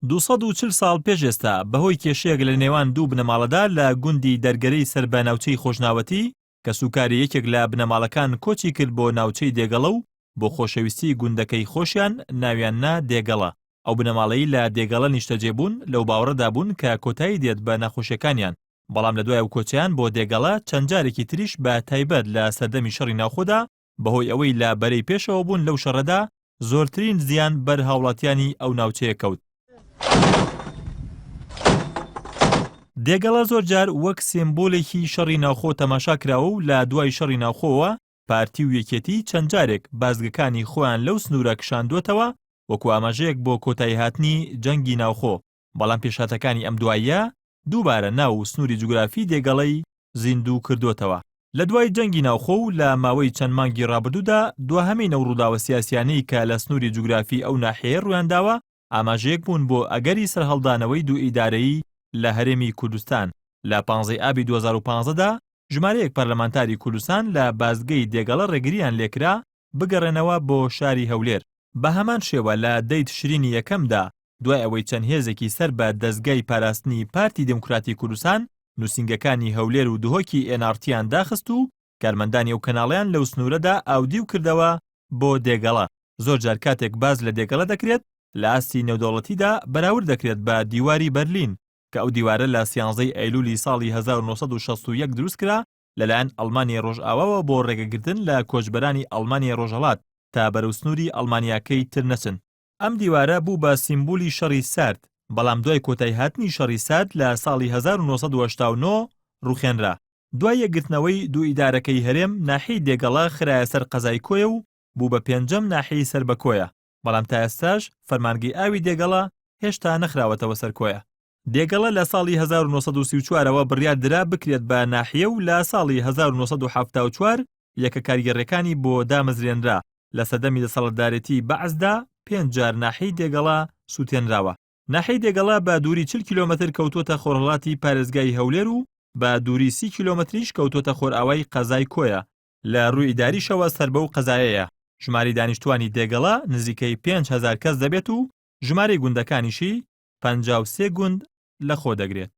دوو سەد و چل ساڵ پێش ئێستا بەهۆی کێشەیەک لە نێوان دوو بنەماڵەدا لە گوندی دەرگەرەی سەر بە ناوچەی خۆشناوەتی، کەسوکاری یەکێک لە بنەماڵەکان کۆچی کرد بۆ ناوچەی دێگەڵە و بۆ خۆشەویستی گوندەکەی خۆشیان ناویان نا دێگەڵە، ئەو بنەماڵەی لە دێگەڵە نیشتەجێ بوون لەو باوەڕەدا بوون کە کۆتایی دێت بە نەخۆشیەکانیان، بەڵام لە دوای ئەو کۆچەیان بۆ دێگەڵە چەند جارێکی تریش بە تایبەت لە سەردەمی شەڕی ناوخۆدا، بەهۆی ئەوەی لە بەرەی پێشەوە بوون لەو شەڕەدا زۆرترین زیان بەر هاوڵاتیانی ئەو ناوچەیە کەوت. دێگەڵە زۆرجار وەک سێمبولێکی شەڕی ناوخۆ تەماشا کراوە و لە دوای شەڕی ناوخۆوە پارتی و یەکێتی چەند جارێک بازگەکانی خۆیان لەو سنوورە کشاندووەتەوە وەکو ئاماژەیەک بۆ کۆتاییهاتنی جەنگی ناوخۆ بەڵام پێشهاتەکانی ئەم دواییە دووبارە ناو و سنووری جوگرافی دێگەڵەی زیندوو کردۆتەوە. لە دوای جەنگی ناوخۆ و لە ماوەی چەند مانگی ڕابردوودا، دواهەمین ئەو ڕووداوە سیاسییانەی کە لە سنووری جوگرافی ئەو ناحیەیە ڕوویان داوە، ئاماژەیەک بوون بۆ ئەگەری سەرهەڵدانەوەی دوو ئیدارەیی لە هەرێمی کوردستان. لە پانزەی ئابی دوو هەزار و پازدە دا، ژمارەیەک پەرلەمانتاری کوردستان لە بازگەی دێگەڵە ڕێگرییان لێکرا بگەڕێنەوە بۆ شاری هەولێر. بە هەمان شێوە لە دەی تشرینی یەکەمدا، دوای ئەوەی چەند هێزێکی سەر بە دەزگای پاراستنی پارتی دیموکراتی کوردستان نووسینگەکانی هەولێر و دهۆکی ئێن ئاڕ تییان داخست و کارمەندانی ئەو کەناڵەیان لەو سنوورەدا ئاودیو کردەوە بۆ دێگەڵە، زۆر جار کاتێک باس لە دێگەڵە دەکرێت لە ئاستی نێودەوڵەتیدا بەراورد دەکرێت بە دیواری بەرلین کە ئەو دیوارە لە سیانزەی ئەیلولی ساڵی هەزار و نۆ سەد و شەست و یەک دروست کرا لەلایەن ئەڵمانیای ڕۆژئاواوە بۆ ڕێگەگرتن لە کۆچبەرانی ئەڵمانیای ڕۆژهەڵات تا بەرەو سنووری ئەڵمانیاکەی تر نەچن. ئەم دیوارە بوو بە سیمبولی شەڕی سارد، بەڵام دوای کۆتای هاتنی شەڕی سارد لە ساڵی هەزار و نۆ سەد و هەشتا و نۆ ڕوخێنرا. دوای یەکگرتنەوەی دوو ئیدارەکەی هەرێم، ناحیەی دێگەڵە خرایە سەر قەزای کۆیە و بوو بە پێنجەم ناحیەی سەر بە کۆیە، بەڵام تا ئێستاش فەرمانگەی ئاوی دێگەڵە هێشتا نەخراوەتەوە سەر کۆیە. دێگەڵە لە ساڵی هەزار و نۆ سەد و سی و چوار ەوە بڕیار درا بکرێت بە ناحیە و لە ساڵی هەزار و نۆ سەد و حەفتا و چوار یەکە کارگێڕیەکانی بۆ دامەزرێنرا، لە سەردەمی دەسەڵتدارێتی بەعسدا پێنج جار ناحیەی دێگەڵە سوتێنراوە. ناحیەی دێگەڵە بە دووری چل کیلۆمەتر کەوتووەتە خۆرهەڵاتی پارێزگای هەولێر و بە دووری سی کیلۆمەتریش کەوتووەتە خۆرئاوای قەزای کۆیە، لە رووی ئیداریشەوە سەر بەو قەزایەیە، ژمارەی دانیشتووانی دێگەڵە نزیکەی پێنج هەزار کەس دەبێت و ژمارەی گوندەکانیشی پەنجا و سێ گوند لەخۆدەگرێت.